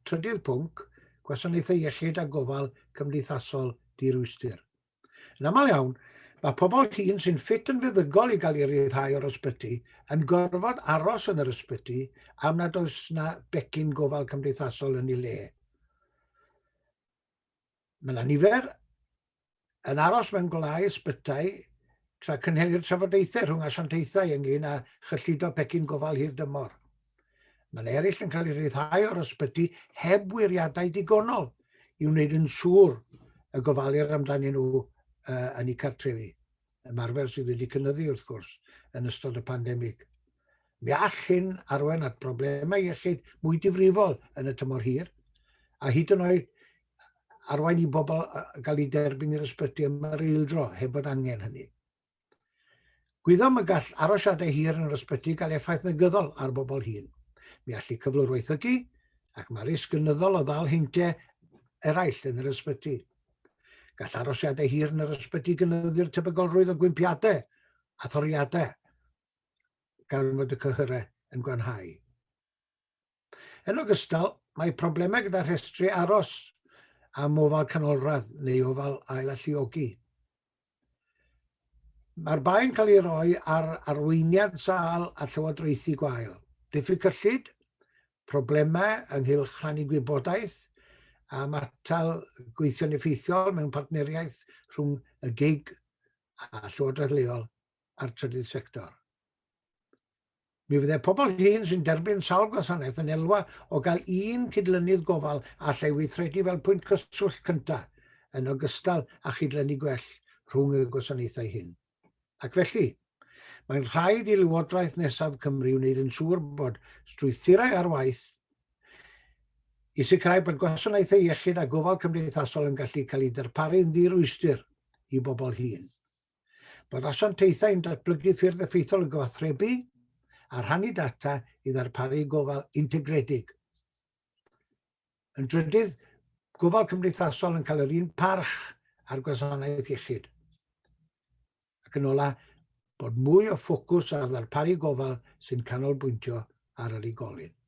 Trydydd pwnc, gwasanaethau iechyd a gofal cymdeithasol dirwystr. Yn aml iawn, mae pobl hŷn sy'n ffit yn feddygol i gael ei ryddhau o'r ysbyty yn gorfod aros yn yr ysbyty am nad oes yna becyn gofal cymdeithasol yn ei le. Mae yna nifer yn aros mewn gwlau ysbytai tra cynhelir trafodaethau rhwng asiantaethau ynglyn â chyllido pecyn gofal hir dymor. Mae yna eraill yn cael eu rhyddhau o'r ysbyty heb wiriadau digonol i wneud yn siŵr y gofalir amdanyn nhw yn eu cartrefi. ymarfer sydd wedi cynyddu wrth gwrs yn ystod y pandemig. Mi all hyn arwain at broblemau iechyd mwy difrifol yn y tymor hir, a hyd yn oed arwain i bobl gael ei derbyn i'r ysbyty am yr eildro heb bod angen hynny. Gwyddom y gall arosiadau hir yn yr ysbyty gael effaith negyddol ar bobl hyn. Mi allu cyflwr waethygu ac mae risg gynyddol o ddal heintau eraill yn yr ysbyty. Gall arosiadau hir yn yr ysbyty gynyddu'r tebygolrwydd o gwympiadau a thoriadau gan fod y cyhyrau yn gwanhau. Yn ogystal, mae problemau gyda rhestru aros am ofal canolradd neu ofal ail alluogi. Mae'r bai'n cael ei roi ar arweiniad sâl a llywodraethu gwael, diffyg cyllid, problemau ynghylch rhannu gwybodaeth am atal gweithio'n effeithiol mewn partneriaeth rhwng y gig a llywodraeth leol a'r trydydd sector. Mi fydde pobl hŷn sy'n derbyn sawl gwasanaeth yn elwa o gael un cydlynydd gofal a allai weithredu fel pwynt cyswllt cyntaf, yn ogystal â chydlynu gwell rhwng y gwasanaethau hyn. Ac felly, mae'n rhaid i Lywodraeth nesaf Cymru wneud yn siŵr bod strwythurau ar waith i sicrhau bod gwasanaethau iechyd a gofal cymdeithasol yn gallu cael eu darparu'n ddirwystr i bobl hŷn. Bod asiantaethau yn datblygu ffyrdd effeithiol o gyfathrebu a rhannu data i ddarparu gofal integredig. Yn drydydd, gofal cymdeithasol yn cael yr un parch ar gwasanaeth iechyd. Ac yn ola, bod mwy o ffocws ar ddarparu gofal sy'n canolbwyntio ar yr unigolyn.